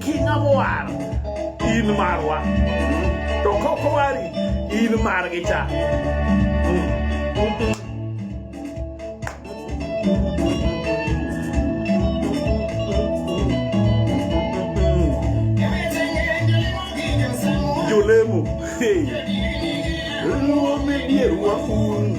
King Amowar in marwa to kokowari in margi cha jolemo hey. Luo me dierwa un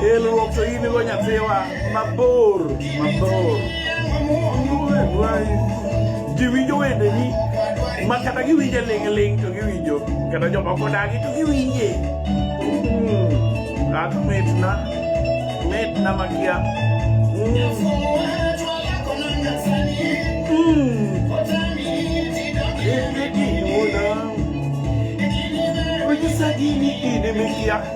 Elruok to in go nyathiwa mabor mabor. Ji winjo wende ni ma kata giwinje ling' ling' to giwinjo kata jomoko dagi to giwinje. Hmm. Ak mitna mitna makia. Onyisa gini in imikia.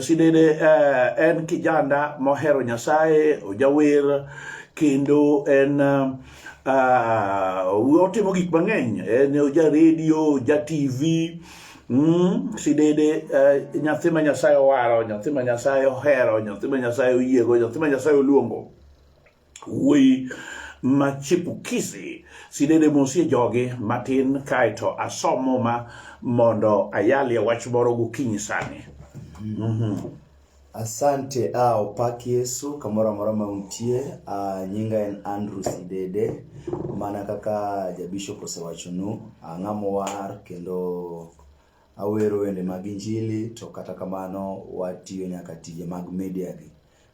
Sidede eh, en kijanda mohero Nyasaye, ojawer kendo en uh, otimo gik mang'eny, en oja redio, oja TV Mm, sidede uh, nyathi ma Nyasaye owaro, nyathi ma Nyasaye ohero, nyathi ma Nyasaye oyiego, nyathi ma Nyasaye oluongo. wuoyi machipukizi sidede mosie jogi matin kaeto asomo ma mondo ayalie wach moro gokinyi sani mm-hmm. asante a ah, opak yesu kamoro amora ma untie ah, nyinga en andrew sidede mana kaka jabishop osewachonu ah, ng'amowar kendo awero wende mag injili to kata kamano watiyo nyaka tije mag media gi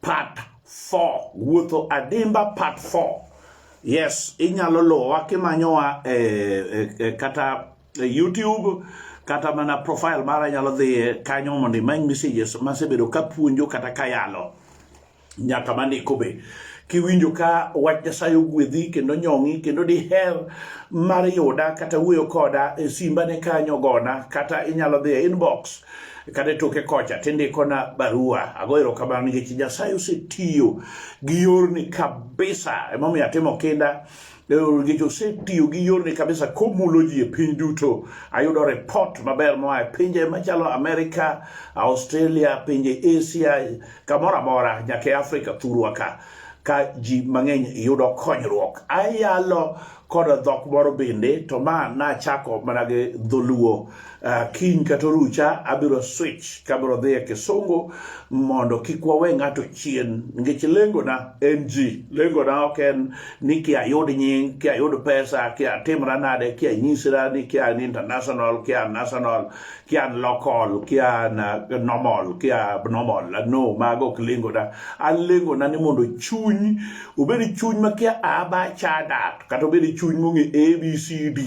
part 4 wuotho adimba part 4 yes inyalo luwowa kimanyowa e, e, e, kata e youtube kata mana profile mara nyalo dhiye kanyo mondo imany messages masebedo kapuonjo kata kayalo nyaka mandiko be kiwinjo ka wach nyasaye ogwedhi kendo nyong'i kendo diher mar yuda kata wuoyo koda e simba ne kanyo gona kata inyalo dhi e inbox kata e toke kocha tindikona barua ago erokamano nikech nyasaye osetiyo gi yorni kabisa emomiyo atimo kinda nikech osetiyo gi yorni kabisa komulo ji e piny duto ayudo report maber moa e pinje machalo amerika australia pinje asia kamoro amora nyaka e afrika thurwa ka ka ji mang'eny yudo konyruok ayalo kod dhok moro bende to ma nachako mana gi dholuo uh, kiny kata orucha abiro switch kabiro dhi e kisungu mondo kik wawe ng'ato chien nikech lengona en ji lengona ok en ni ki ayud nying ki ayud pesa ki atimra nade ki anyisra ni ki an international ki an national ki an local ki an uh, normal ki abnormal uh, no mago ok lengona an lengona ni mondo chuny obed chuny ma ki aba chadat kata obed chuny mong'e abcd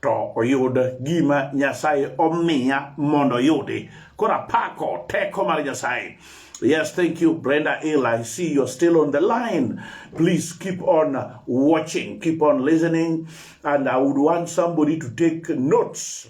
to oyud gima nyasaye omiya mondo oyudi koro apako teko mar nyasaye Yes, thank you, Brenda Hill. I see you're still on the line. Please keep on watching, keep on listening, and I would want somebody to take notes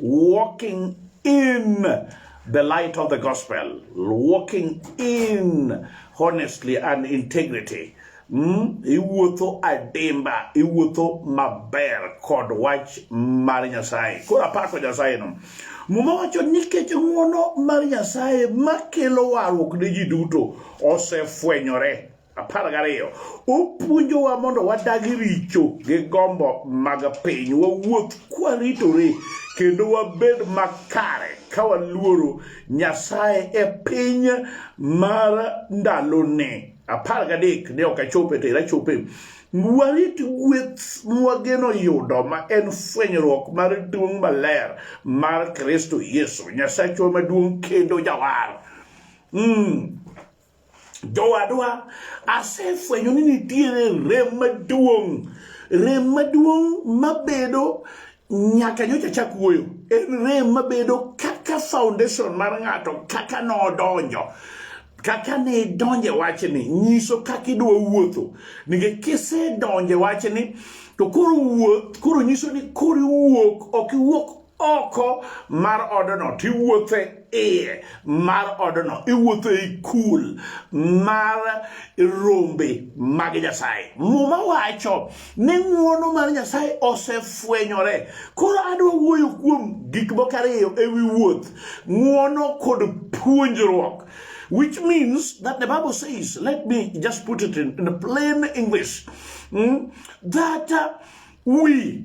walking in the light of the gospel, walking in honestly and integrity. Mm, iwuotho adimba iwuotho maber kod wach mar nyasaye koro apako nyasaye no muma wacho nikech ng'wono mar nyasaye makelo warruok ne ji duto osefwenyore apar gariyo opuonjowa mondo wadagi richo gi gombo mag piny wawuoth kwaritore kendo wabed makare ka waluoro nyasaye e piny mar ndalone apar gadek ne ok achope to ira chope warit gweth mwageno yudo ma en fwenyruok mar duong' maler mar kristo yesu nyasachwa maduong' kendo jawar mm. jowadwa asefwenyo ni nitiere rem maduong' rem maduong' mabedo nyaka nyocha chak wuoyo en rem mabedo kaka foundation mar ng'ato kaka nodonjo kaka ne idonje wachni nyiso kaka idwa wuotho nikech kisedonje wachni to koro wuoth koro nyiso ni koro iwuok ok iwuok oko mar odno to iwuotho e iye mar odno iwuotho e kul mar rombe mag nyasaye muma wacho ni ng'uono mar nyasaye osefwenyore koro adwa wuoyo kuom gik moko ariyo e wi wuoth ng'uono kod puonjruok which means that the Bible says, let me just put it in, in plain English, mm, that uh, we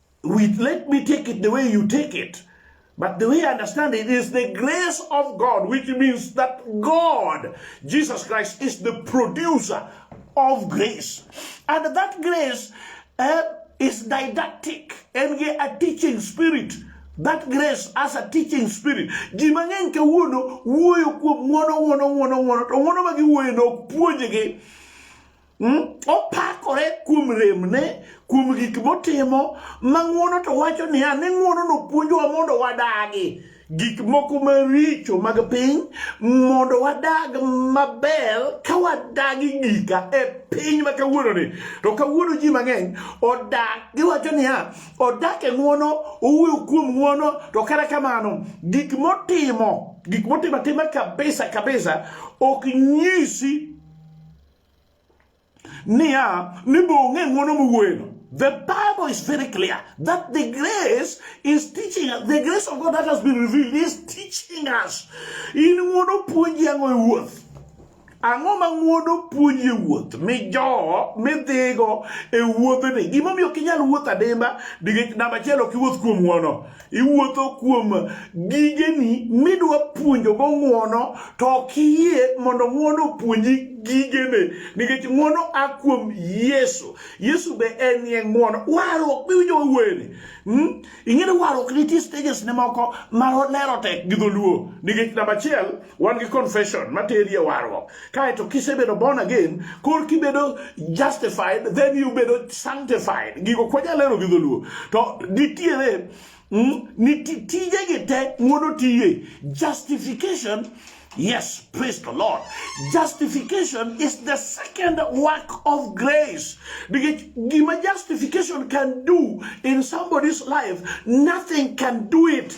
with let me take it the way you take it but the way I understand it is the grace of God which means that God Jesus Christ is the producer of grace and that grace uh, is didactic and a teaching spirit that grace as a teaching spirit ji mang'eny kawuono wuoyo kuom ng'wono ng'wono ng'wono ng'wono to ng'wono ma giwuoyono ok puonjgi Hmm? Opakore kuom remne, kuom gik motimo, ma ng'uono to wacho niya ni ng'uono nopuonjowa mondo wadagi gik moko maricho mag piny mondo wadag maber ka wadagi gika e piny ma kawuononi to kawuono ji mang'eny odak giwacho niya odak e ng'uono owuoyo kuom ng'uono to kata kamano gik motimo gik motimo atima kabisa kabisa ok nyisi niya ni be ong'e ng'wono miwuoyeno The Bible is very clear that the grace is teaching us. The grace of God that has been revealed is teaching us. In ng'wono puonji ang'o e wuoth? Ang'o ma ng'wono puonji e wuoth? Mijowo, midhigo e wuodhni. Gimomiyo ok inyal wuotho adimba nikech namba achiel ok iwuoth kuom ng'wono. iwuotho kuom gigeni midwa puonjogo ng'uono to ok iyie mondo ng'uono opuonji gigene nikech ng'uono a kuom yesu yesu be en ye ng'uono warruok biwinjo wawuoyeni hmm? ing'eni warruok nitie stages ne moko ma lero tek gi dholuo nikech namba achiel wan gi confession materi e warruok kaeto kisebedo born again kor kibedo justified then you bedo sanctified gigo kwanyalero gi dholuo to nitiere mm, nititijegi te ng'ono tiye justification Yes, praise the Lord. Justification is the second work of grace. Because justification can do in somebody's life, nothing can do it.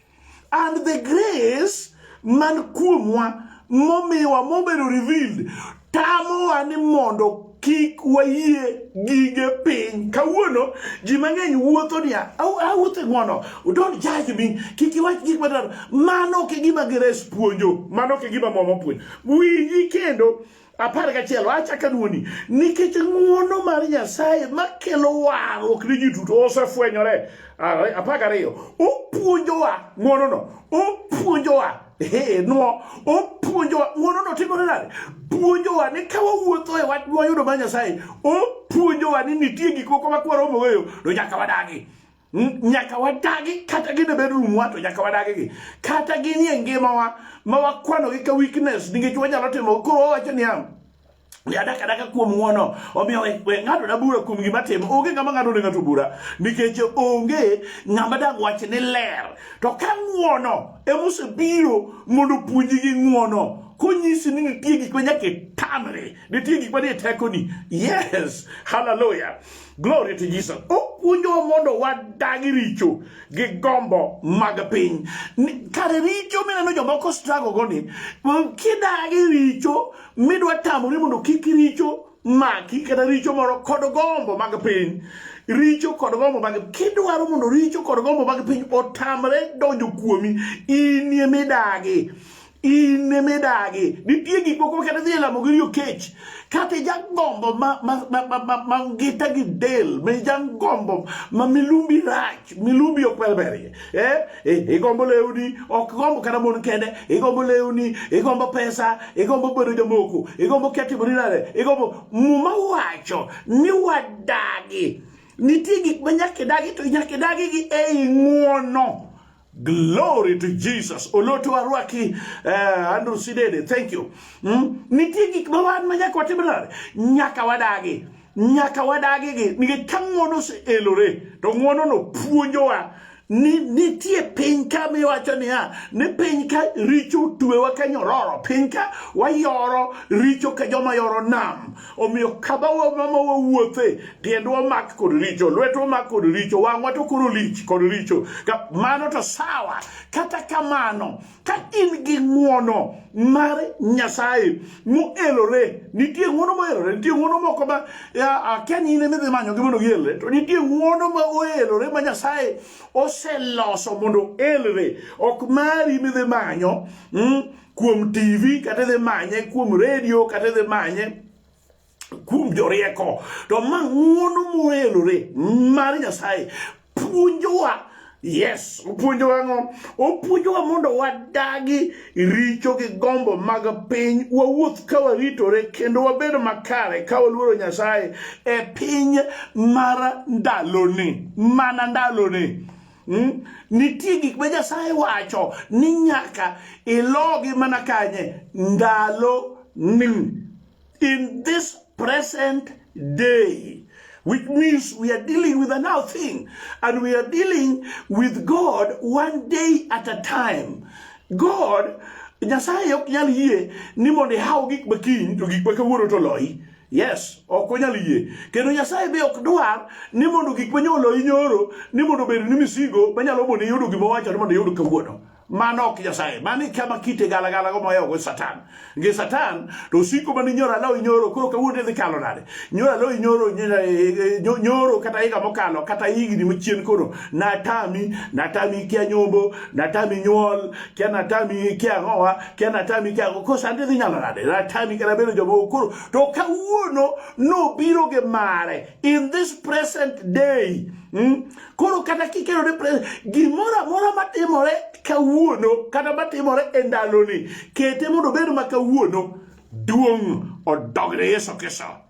and the grace man kuomwa momiwa mobedo revealed tamowa ni mondo kik wayie gige piny kawuono ji mang'eny wuotho niya awuotho e ng'wono don't judge me kik iwach gik madar mano ok e gima gires puonjo mano ok e gima moma puonjo winji kendo apar gachiel wachaka duoni nikech ng'uono mar nyasaye makelo warruok ni ji duto osefwenyore apar gariyo opuonjowa ng'uonono opuonjowa nwo opuonjowa ng'uonono timore nade puonjowa ni ka wawuotho e wach wayudo mar nyasaye opuonjowa ni nitie gik moko makwaro moweyo to nyaka wadagi nyaka wadagi kata gine bedroom wa to nyaka wadagi gi kata ginie ngimawa ma wakwanogi ka weakness nikech wanyalo timo koro wawacho niya adak adaka kuom ng'wono omiyo we ng'ato na bura kuom gima timo onge ng'ama ng'ato ne ng'ato bura nikech onge ng'ama dag wach ni ler to ka ng'wono emosebiro mondo puonji gi ng'wono konyisi ni nitie gik ma nyaka itamri nitie gik ma ni e tekoni yes haleluya Glory to Jesus. Opuonjowa mondo wadagi richo gi gombo mag piny. Kare richo mineno jomoko struggle go ni, kidagi richo midwa tamori mondo kik richo maki kata richo moro kod gombo mag piny richo kod gombo mag kidwaro mondo richo kod gombo mag piny otamre donjo kuomi inie midagi in midagi nitie gik moko makata dhi e lamo gi riyo kech kata jagombo ma ngita gi del ma jagombo ma milumbi rach milumbi ok belberie eh, eh, igombo lewni ok gombo kata mon kende igombo lewni igombo pesa igombo bedo jamoko igombo ketimoni nade igombo muma wacho ni wadagi nitie gik ma nyaka idagi to nyaka idagi gi ei ng'uono Glory to Jesus. Oloto warwaki uh, eh, Andrew Sidede. Thank you. Mm? Nitie gik ma wan ma nyaka watim nade? Nyaka wadagi. Nyaka wadagi gi nikech ka ng'wono oseelore to ng'wonono puonjowa ni nitie piny ka miwacho niya ni piny ka richo tuewa ka nyororo piny ka wayoro richo ka joma yoro nam Omiyo kama wamama wawuothe, tiendwa omak kod richo, lwetwa omak kod richo, wang'wa to koro lich kod richo. Mano to sawa. Kata kamano, ka in gi ng'wono mar Nyasaye moelore, nitie ng'wono moelore, nitie ng'wono moko ma akia ni in ema idhi manyogi mondo gielre, to nitie ng'wono ma oelore ma Nyasaye oseloso mondo elre, ok mari midhi manyo. Mm? kuom TV kata idhi manye kuom redio kata idhi manye kuom jorieko to ma ng'uono moelore mar Nyasaye puonjowa yes opuonjowa ang'o opuonjowa mondo wadagi richo gi gombo mag piny wawuoth ka waritore kendo wabed makare ka waluoro nyasaye e piny mar ndaloni mana ndaloni Hmm? Nitie gik ma Nyasaye wacho ni nyaka ilogi mana kanye ndalo ni in this present day which means we are dealing with a now thing and we are dealing with God one day at a time God Nyasaye ok nyal yie ni mondo ihaw gik makiny to gik ma kawuono to loyi Yes, ok onyal yie. Kendo Nyasaye be ok dwar ni mondo gik manyolo inyoro ni mondo obed ni misigo manyalo mondo iyudo gima wacho ni mondo iyud kawuono. Mano ok Nyasaye. Mano kama kite gala gala go moyo go Satan. Nge Satan to osiko mani nyora law inyoro koro kawuono dhi kalo nade. Nyora law inyoro eh, eh, nyoro kata higa mokalo kata higni machien koro natami natami kia nyombo natami nyuol kia natami kia ngowa kia na tami kia ko sande dhi nyalo nade na tami kia bedo joma okoro to kawuono nobiro gi mare in this present day hmm? koro kata kikero ne gimoro amora matimore kawuono kata matimore e ndaloni kete mondo obed ma kawuono duong' odogne yesu kristo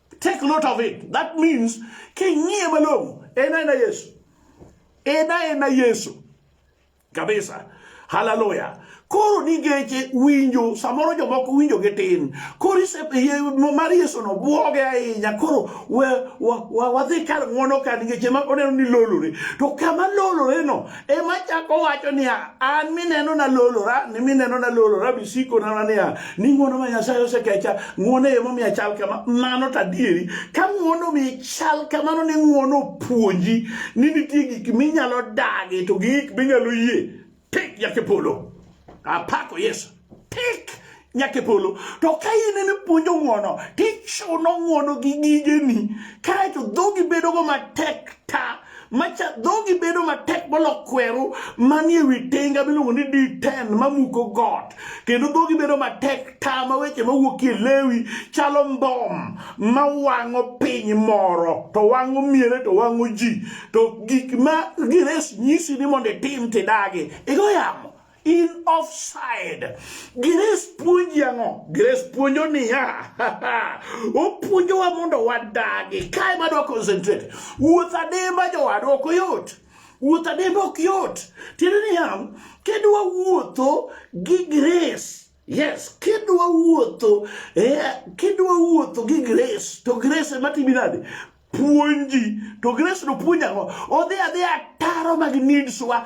Take note of it. That means king'iye malong'o en aena Yesu. En aena Yesu. Kabisa. Hallelujah. Koro nigeche winjo samoro jomoko winjo gi tin. Koro mar Yesu no buoge ahinya. Koro wadhi kar ng'wono ka nigeche ma oneno ni lolore. To kama lolore no ema chako wacho niya an mineno nalolora ni mineno nalolora bisiko nana niya ni ng'wono ma nyasaye osekecha ng'wono e momiyo achal kama mano to adieri ka ng'wono mi chal kamano ni ng'wono opuonji ni nitie gik minyalo dagi to gi gik minyalo yie tik jakipolo apako yesu tik nyaka e polo to ka in en puonjo ng'uono tichuno ng'uono gi gigeni kaeto dhogi bedogo matek ta macha dhogi bedo matek molo kweru manie wi tenga miluongo ni d10 mamuko got kendo dhogi bedo matek ta ma weche mawuokie lewi chalo mbom ma wang'o piny moro to wang'o miere to wang'o ji to gik ma gires nyisi ni mondo itim tidagi igo yamo in offside. Grace puonji ang'o? Grace puonjo niya, opuonjowa mondo wadagi. Kae madwa concentrate. Wuoth adimba jowadwa ok oyot. Wuoth adimba ok yot. Tiende niya, kidwa wuotho gi grace Yes, kidwa wuotho, eh, kidwa wuotho gi grace, to grace ema timi nade? Puonji. To grace no puonji ang'o? Odhi adhiya taro mag needs wa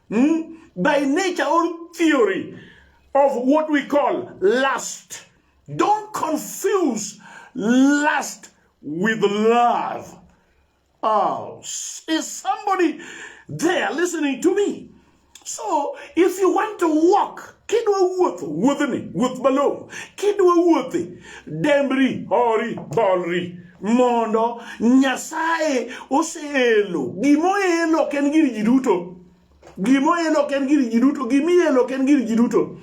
mm, by nature or theory of what we call lust. Don't confuse lust with love. Oh, is somebody there listening to me? So, if you want to walk, kidwa wuotho wuodhni wuoth malong'o kidwa wuothe dembri hori bolri mondo Nyasaye oseelo gimoelo ok en gir ji duto gimoelo ok en gir ji duto gimielo ok en gir ji duto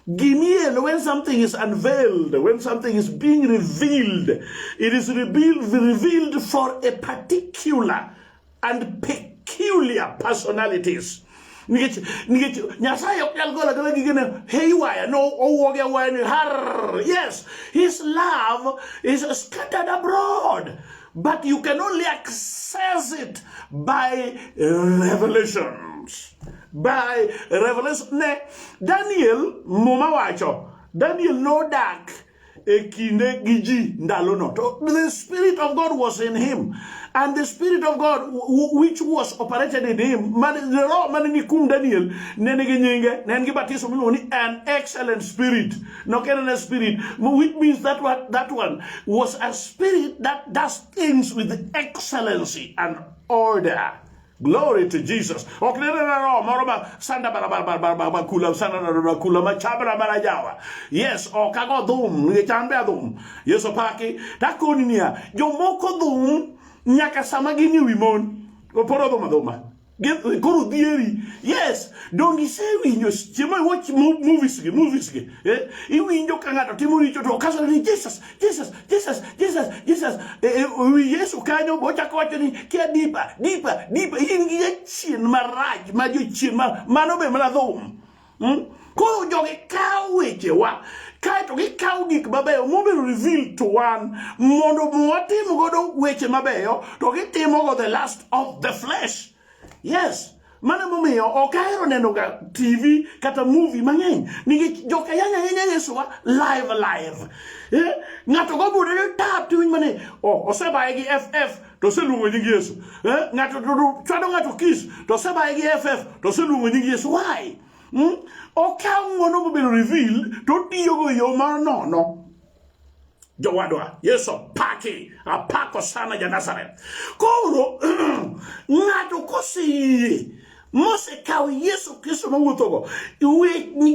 Gimiel, when something is unveiled, when something is being revealed, it is revealed, revealed for a particular and peculiar personalities nikech nikech nyasaye ok nyal gola gola gige ne haywire no owuogi awuoya ni har yes his love is scattered abroad but you can only access it by revelations by revelation ne daniel muma wacho daniel nodak e kinde gi ji ndalono to the spirit of god was in him and the spirit of god which was operated in him man, the roho mane ni kuom daniel ne nigi nyinge ne en gi batiso miluongo ni an excellent spirit nok en ane spirit which means that one, that one was a spirit that does things with excellency and order Glory to Jesus. Ok ne roho moro ma sanda bara bara bara bara bara kula sanda bara kula ma chabra bara jawa. Yes, ok ago dhum, ni chambe adhum. Yesu paki, takoni niya, jomoko dhum nyaka sama gini wi mon. Oporo dhum adhuma. Koro dhieri. Yes, dongi se winyo chiemo watch movies gi movies gi. Eh, iwinjo ka ng'ato timo richo to kasore ni Jesus, Jesus, Jesus, Jesus, Jesus. E, e, wi Yesu kanyo bochako wacho ni kia dipa, dipa, dipa. In gi jachien marach ma jochien ma mano be mana dhum. Hmm? Koro jogi kawo wechewa kaeto gikawo gik mabeyo mobedo reveal to wan mondo watim godo weche mabeyo to gitimo go the last of the flesh. yes mano emomiyo ok ahero nenoga tv kata movie mang'eny nikech joka yanya ahinya yesuwa live live eh? ng'ato gobude ni tap tiwinj mani oh, osebaye gi ff to oseluongo nying yesu eh? ng'ato chwado ng'ato kis to osebaye gi ff to oseluongo nying yesu why hmm? okawo ng'wono mobedo reveal to otiyogo e yo mar nono jowadwa yesu apaki apako sana ja nazareth koro ng'ato koseyie mosekawo yesu kristo mowuothogo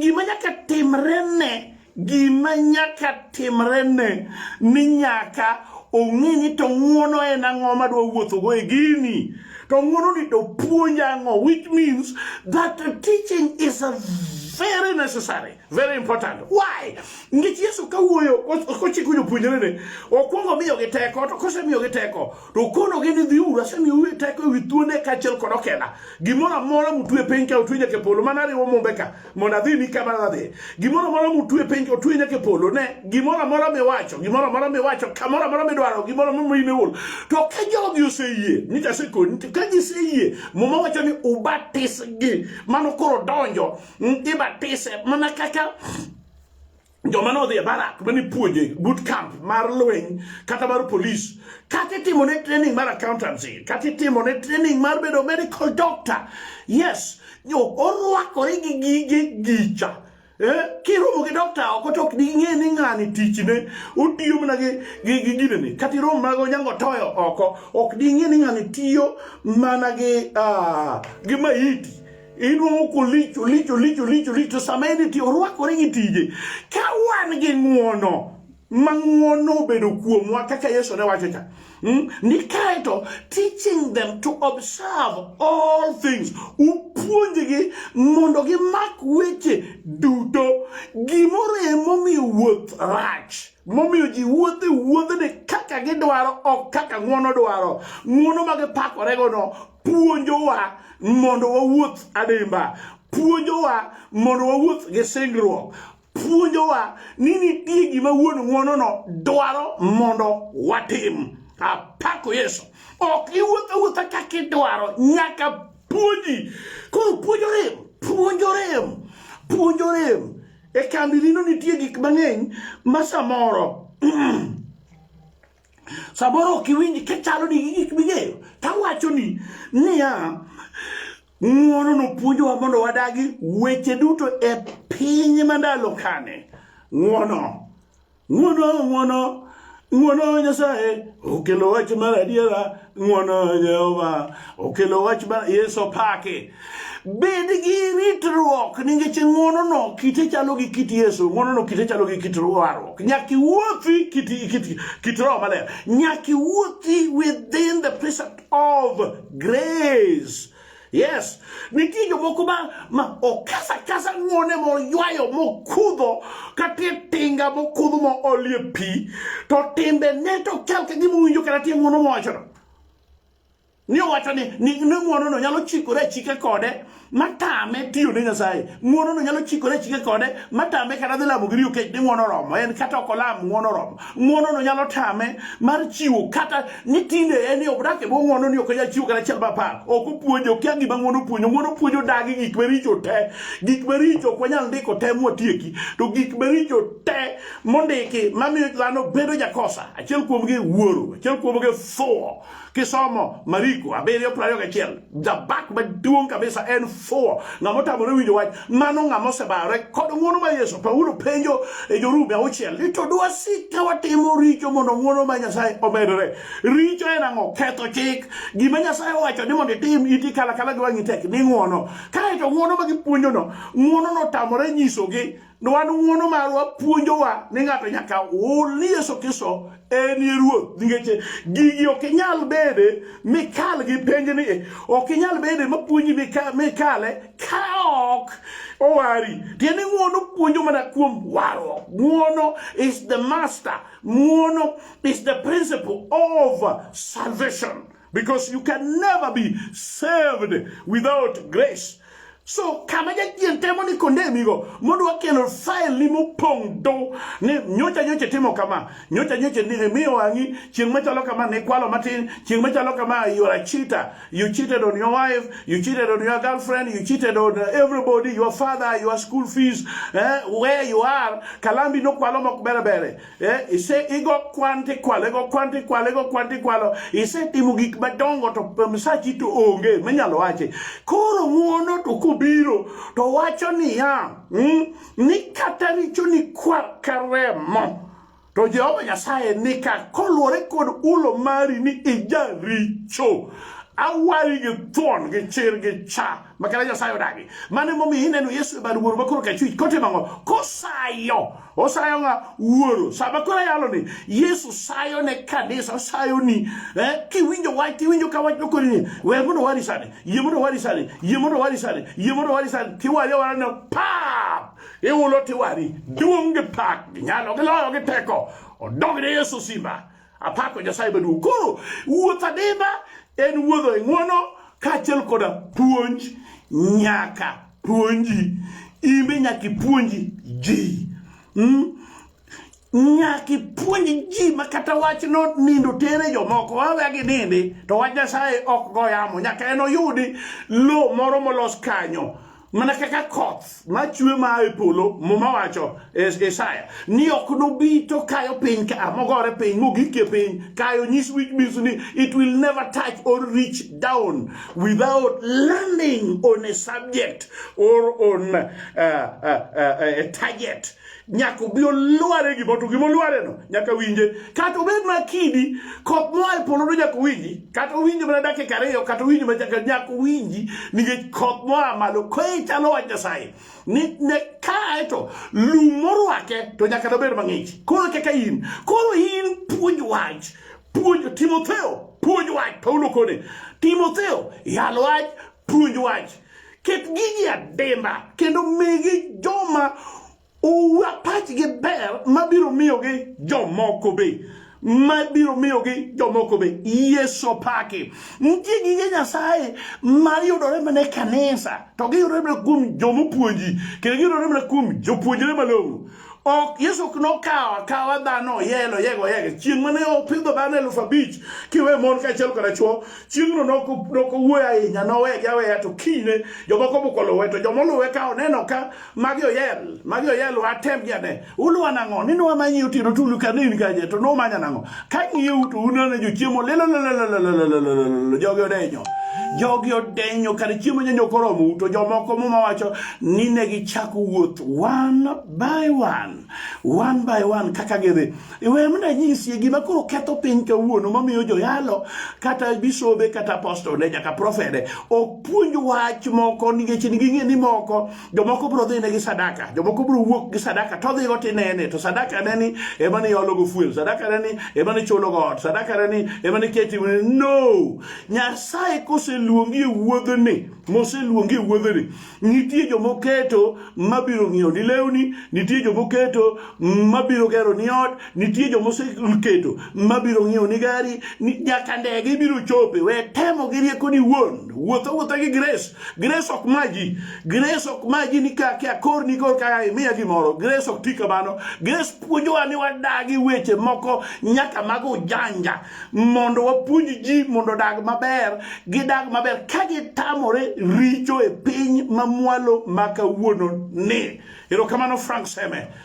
gima nyaka timrene gima nyaka timrene ni nyaka ong'e ni to ng'uono en ang'o madwa wuothogo e gini to ng'uono ni to puonja ang'o which means that teaching is a very necessary Very important. Why? Nikech Yesu kawuoyo kochiko jopuonjrene, okwongo miyogi teko, to kosemiyogi teko, to okonogi ni dhiuru, asemiyou teko ewi thuonde kaachiel kod okela. Gimoro amora mutwe e piny ka utwe nyaka e polo, mana riwo mumbe ka, mondo adhi ni kama nadhi. Gimoro amora mutwe e piny ka utwe nyaka e polo, ne, gimoro amora miwacho, gimoro amora miwacho, kamoro amora midwaro, gimoro amora mineol. To ka jogi oseyie, nyicha asekoni, ka giseyie, muma wacho ni ubatisgi, mano koro donjo ibatise mana kaka joma nodhi e barak mane puonje boot camp mar lweny kata mar polis kata itimo ne training mar accountancy kata itimo ne training mar bedo medical doctor yes yo orwakore gi gige gicha eh, kiromo gi dokta oko to ok ding'e ni ng'ani tichne otiyo mana gi gi- gi ginene kata iromo mana gi onyango toyo oko ok ding'e ni ng'ani tiyo mana gi ah, gi maiti Inuowo kolich olich olich olich olich to sama en ti orwakore gi tije. Ka wan gi ng'uono ma ng'uono obedo kuomwa kaka Yesu ne wacho cha. Hmm? Ni kaeto teaching them to observe all things. Upuonjgi mondo gimak weche duto. Gimoro emomiyo wuoth rach. momiyo ji wuothe wuodhene kaka gidwaro ok kaka ng'uono dwaro ng'uono ma gipakoregono puonjowa mondo wawuoth adimba puonjowa mondo wawuoth gi singruok puonjowa ni nitie gima wuon ng'wonono dwaro mondo watim apako yesu ok iwuotho wuotha kaka idwaro nyaka puonji koro puonjo rem puonjo rem puonjo rem e kambi rino nitie gik mang'eny ma samoro samoro ok iwinj kichalo ni gik ming'eyo tawacho ni niya ng'uono nopuonjowa mondo wadagi weche duto e piny mandalo kane ng'uono ng'uono ng'uono ng'uono nyasaye okelo wach mar adiera ng'wono Jehova okelo wach ma Yesu opake. Bed gi ritruok nikech ng'wonono kite chalo gi kit Yesu, ng'wonono kite chalo gi kit warruok. Nyaka iwuothi kit, kit, kit Roho Maler. Nyaka iwuothi within the precept of grace. Yes, nitie jomoko ma, ma okasa kasa ng'one moywayo mokudho katie tinga mokudho ma olie pi to timbe ne to chal ka gima winjo kata tie ng'uono mowachono ni owacho ni ni ng'uonono nyalo chikore achika kode matame tiyo ne Nyasaye ng'uonono nyalo chikore achika kode matame kata dhi lamo giriyo kech ni ng'uono romo en kata ok olam ng'uono romo ng'uonono nyalo tame mar chiwo kata ni tinde en yo odak e bwo ng'wono ni ok onyal chiwo kata achiel mapar ok opuonjo okia gima ng'wono puonjo ng'wono puonjo dagi gik maricho te gik maricho ok wanyal ndiko te mwatieki to gik maricho te mondiki mamiyo dhano bedo jakosa achiel kuomgi wuoro achiel kuomgi fuwo kisomo mariko abiriyo prariyo gachiel Jabak maduong' kabisa en fuwo. Ng'ama otamore winjo wach, mano ng'ama osebare kod ng'wono ma Yesu. Paulo penjo e Jorumi auchiel ni to dwasik ka watimo richo mondo ng'wono ma Nyasaye omedore. Richo en ang'o? Ketho chik. Gima Nyasaye owacho ni mondo itim iti kalakala gi wang'i tek ni ng'wono. Kae to ng'wono ma gipuonjono, ng'wono notamore nyisogi Nwan ng'uono marwa puonjowa ni ng'ato nyaka hul ni Yesu Kristo en ye ruoth nikech gigi ok inyal bede mikal gi penj ni e. ok inyal bede mapuonji mikale ka ok owari tiende ng'uono puonjo mana kuom warruok ng'uono is the master ng'uono is the principle of salvation because you can never be saved without grace so kama jachien temo ni kondemigo modwa kelo fail ni mopong' do ni nyocha nyocha timo kama nyocha nyocha ni miyo wang'i chieng' machalo kama ne kwalo matin chieng' machalo kama you are a cheater you cheated on your wife you cheated on your girlfriend you cheated on everybody your father your school fees eh, where you are kalambi nokwalo mok bere bere Eh, ise igo kwan tikwalo igo kwan tikwalo igo kwan tikwalo isetimo gik madongo to msachi to onge minyalo wache koro ng'uono to kobiro to wacho niya mm, ni kata richo ni kwar ka remo to jehova nyasaye nika koluwore kod ulo mari ni ijaricho awari gi thuon gi chir gi cha makana nyasaye odagi mane momiyo ineno yesu e bad wuoro makoro kachwich kotimo ang'o kosayo osayo nga wuoro sama koro yalo ni yesu sayo ne kanisa osayo ni eh, kiwinjo wach tiwinjo ka wach nokoni ni we mondo wari sani yie mondo wari sani yie mondo wari sani yie mondo wari sani tiwari awara no pap iwulo tiwari duong' gi pak gi nyalo gi loyo gi teko odog ne yesu simba Apako Nyasaye maduong'. Koro wuoth adimba en wuodho e ng'uono kaachiel koda puonj nyaka puonji imbe nyaka ipuonji ji mm? nyaka ipuonj ji ma kata wachno nindo tere jomoko waweya gi nindi to wach nyasaye ok go yamo nyaka en oyudi lo moro molos kanyo mana kaka koth machwe maa e polo muma wacho isaya ni ok nobi to kayo piny ka mogore piny mogikie piny kayo nyis which means ni it will never touch or reach down without landing on a subject or on a, a, a, a target nyaka obi olware gimo to gimo lwareno nyaka winje kata obed ma kidi kop moa e polo to nyaka owinji kata owinji mana dakika ariyo kata owinji ma chaka nyaka owinji nikech kop moa malo koe chalo wach nyasaye ni ne kae to lum morwake to nyaka nobed mang'ich koro kaka in koro in puonj wach puonj timotheo puonj wach paulo kone timotheo yal wach puonj wach Ket gigi adimba kendo migi joma owa pachgi ber mabiro miyogi jomoko be ma biro miyogi jomoko be yeso paki nitie gige nyasaye ma yudore mana e kanisa to giyudore mana kuom jomopuonji kendo giyudore mana kuom jopuonjre malong'o ok yesu ok nokawo akawa dhano oyelo oyego oyego chieng' mane opidho dhano elufu abich kiwe mon kaachiel koda chuo chieng'no nokowuoyo ahinya nowegi aweya to kinyne jomoko moko luwe to joma oluwe ka oneno ka magi oyel magi oyel watemgi ane uluwa nang'o ni nwamanyi otieno tulu kanini kaje to numanya nang'o kang'iyou to uneno jochiemo lelelelelelelelelelelele jogi odenyo jogi odenyo kare chiemo nyanyo koromu to jomoko muma wacho ni ne gichako wuoth one by one one by one kaka gidhi iwe mna nyisie gima koro ketho piny kawuono mamiyo joyalo kata bisobe kata apostol ne nyaka profede ok puonj wach moko nikech ging'e ni moko jomoko biro dhine gi sadaka jomoko biro wuok gi sadaka to dhigo tinene to sadaka ne ni ema ni iologo fuel sadaka ne ni ema ni chulogo ot sadaka ne ni ema ni keti no nyasaye koseluongi e wuodhni moseluongi e wuodhni nitie jomoketo mabiro ng'iewo ni lewni nitie jomoketo mabiro gero ni ot Nitie joma oseketo mabiro ng'iewo ni gari ni nyaka ndege ibiro chope. We temo gi rieko ni wuon. Wuotho wuotha gi grace. Grace ok maji. Grace ok maji ni ka kia kor ni kor ka imiya gimoro. Grace ok ti kamano. Grace puonjowa ni wadagi weche moko nyaka mago janja mondo wapuonj ji mondo odag maber gidag maber ka gitamore richo e piny mamwalo ma kawuono ni. Erokamano Frank Seme.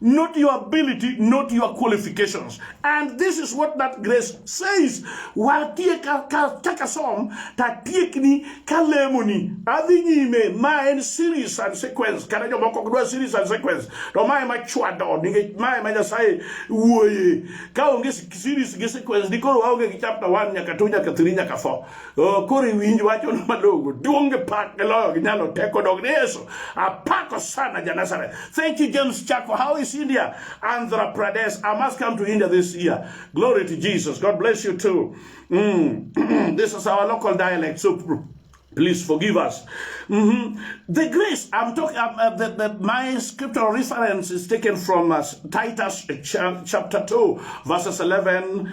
not your ability, not your qualifications. And this is what that grace says. Watie ka, ka, taka som, tatiek ni, kalemo ni, adhi nyime, ma en series and sequence, kata jo moko dwa series and sequence, to ma ema chwado, nikech ma ema Nyasaye wuoye. Ka onge series gi sequence, dikoro waonge gi chapter 1 nyaka 2 nyaka 3 nyaka 4. Oh, koro iwinj wachono madongo duong' gi pak gi loyo gi nyalo teko dog ni yesu apako sana ja nazareth thank you james chako how is india andhra pradesh i must come to india this year glory to jesus god bless you too mm. this is our local dialect so please forgive us mm-hmm. the grace i'm talking uh, uh, the, the, my scriptural reference is taken from uh, titus ch- chapter 2 verses 11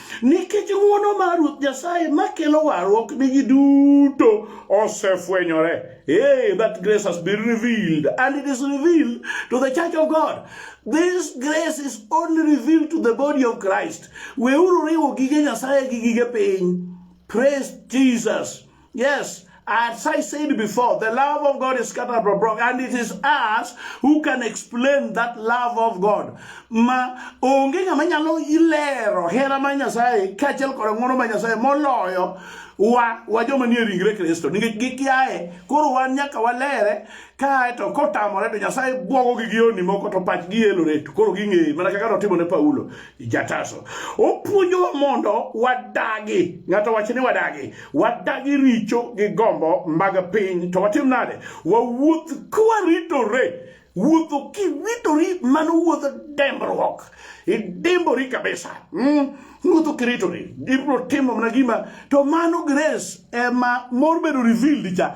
Nikech ng'wono mar Ruoth Nyasaye makelo warruok ni ji duto osefwenyore. Hey, that grace has been revealed and it is revealed to the church of God. This grace is only revealed to the body of Christ. Weuru riwo gige Nyasaye gi gige piny. Praise Jesus. Yes, as I said before, the love of God is scattered abroad, and it is us who can explain that love of God. Ma onge ng'ama nyalo ilero hera ma Nyasaye kaachiel kod ng'wono ma Nyasaye moloyo wa wa joma nie ringre Kristo nikech gikiaye koro wan nyaka walere kae to kotamore to Nyasaye bwogogi gi yoni moko to pachgi yelore to koro ging'eyi mana kaka notimo ne Paulo jataso opuonjowa mondo wadagi ng'ato wacho ni wadagi wadagi richo gi gombo mag piny to watim nade wawuoth kwaritore wuotho kiwitori mano wuodh dembruok idimbori kabisa mm. wuotho kiritori ibiro timo mana gima to mano grace ema mor bedo revealed cha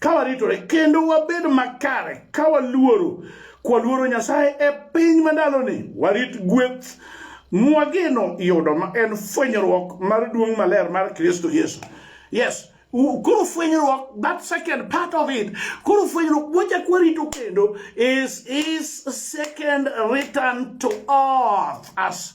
ka waritore kendo wabed makare ka waluoro kwaluoro Nyasaye e piny mandaloni warit gweth mwageno yudo ma en fwenyruok mar duong' maler mar Kristo Yesu yes koro fwenyruok that second part of it koro fwenyruok wachak warito kendo is is second return to earth as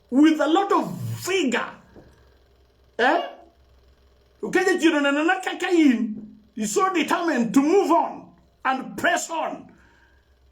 with a lot of vigor eh? Ukeja chiro na na kaka in you so determined to move on and press on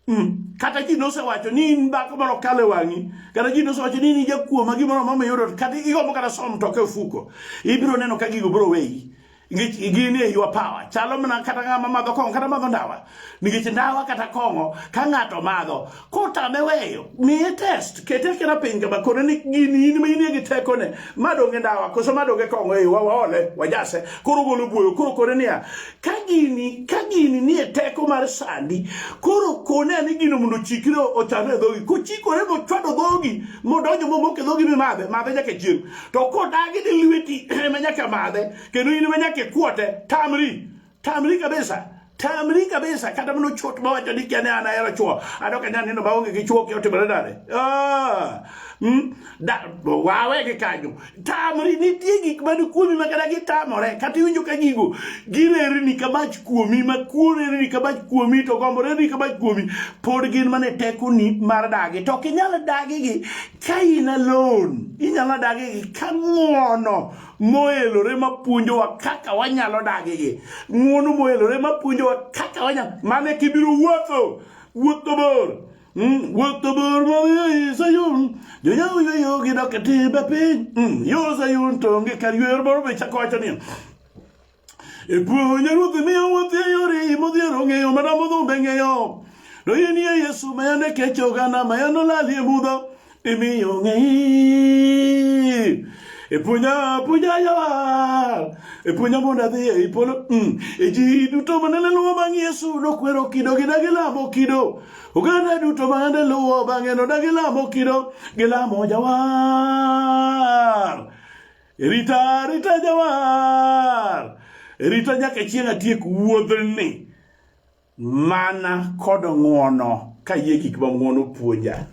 Mm. kata ji nosewacho ni in dhako moro kale wang'i kata ji nosewacho ni in jakuoma gimoro mama yoro kata igombo kata som toke ofuko ibiro neno ka gigo biro weyi nikech gin e ywa power chalo mana kata ng'ama madho kong'o kata madho ndawa nikech ndawa kata kong'o ka ng'ato madho kotame weyo miye test kete kena piny kama kone ni gini in ma inie gi tekone madonge ndawa koso madonge kong'o e ywa waole wajase koro golo buoyo koro kone niya ka gini ka gini nie teko mar sandi koro kone ni gino mondo ochikre ochano e dhogi kochikore mochwado dhogi modonjo momoke dhogi mimadhe madhe nyaka chieng' to kodagi ni lweti ema nyaka madhe kendo in ema nyaka ikwote tamri tamri kabisa tamri kabisa kata mano chot mawacho ni kiane an ahero chwo adok anya neno maonge gi chwo kiotimore nade Ah, mm, da- wawe gi kanyo tamri nitie gik man kuomi ma kata gitamore kata iwinjo ka gigo girerni ka mach kuomi ma kurerni ka mach kuomi to gomborerni ka mach kuomi pod gin mana e tekoni mar dagi to ok inyal dagigi Ka in alone, inyalo dagi gi ka ng'uono moelore mapuonjowa kaka wanyalo dagi gi. Ng'uono moelore mapuonjowa kaka wanyalo, mane kibiro wuotho, wuotho bor. Mm, wuotho bor moyo i Sayun, jonyawo yweyo gidok e timbe piny. Mm, yo Sayun to onge kar yweyo, moro be chako wacho niya, E puonjo ruoth miyo wuoth e yore modhiero ong'eyo mana modhumbe ng'eyo. To in ye Yesu ma yande kecho gana ma yande olali e mudho imiyo ng'eyi. E puonja puonja yawar e puonja mondo adhi e polo mm. e ji duto manene luwo bang' Yesu nokwero kido gi dagi lamo kido oganda duto manene luwo bang'e no dagi lamo kido gilamo jawar Rita, rita jawar. Rita nyaka chieng' atiek wuodhni mana kod ng'uono ka yie gik ma ng'uono puonja.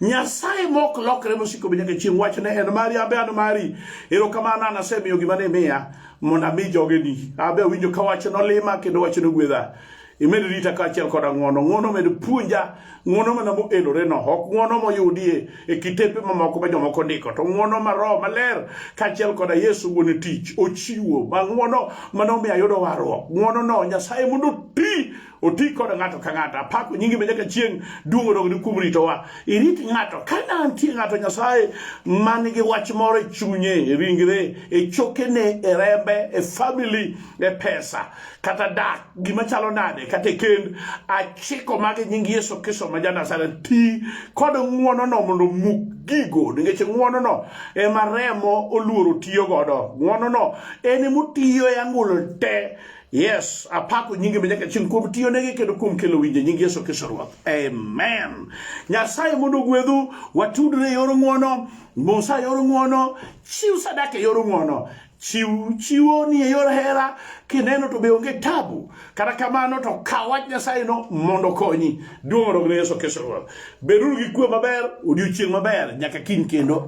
Nyasaye mok lokre mosiko be nyaka chieng' wachne en mari abe an mari. Erokamano an asemiyo gima ne miya mondo ami jogeni. Abe awinjo ka wach nolima kendo wach nogwedha. imed rita kaachiel koda ng'wono ng'wono med puonja ng'wono mana moelore no ok ng'wono moyudie e kitepe mamoko ma jomoko ndiko to ng'wono ma roho maler kaachiel koda yesu wuon tich ochiwo ma ng'wono mane omiyo ayudo warruok ng'wono no nyasaye mondo oti oti koda ng'ato ka ng'ato apako nyingi be nyaka chieng' duong' odogni kuom ritowa irit ng'ato ka nantie ng'ato nyasaye man gi wach moro e chunye e ringre e chokene e rembe e famili e pesa kata dak gima chalo nade kata e kend achiko magi nying yesu kristo ma ja nazareth ti kod ng'wonono mondo muk gigo nikech ng'wonono ema remo oluoro tiyo godo ng'wonono en emotiyo e angolo te yes apako nyinge manyaka chieng' kuom tiyo nege kendo kuom kelo winje nying yesu kristo ruoth amen nyasaye mondo gwedhu watudre e yor ng'wono musa e yor ng'wono chiw sadaka e yor ng'wono Chiw chiwo ni e yor hera kineno to be onge tabu. Kata kamano to kaw wach Nyasaye no mondo okonyi. Duong' odog ne Yesu Kristo Ruoth. Beduru gi kuwe maber, odiochieng' maber nyaka kiny kendo.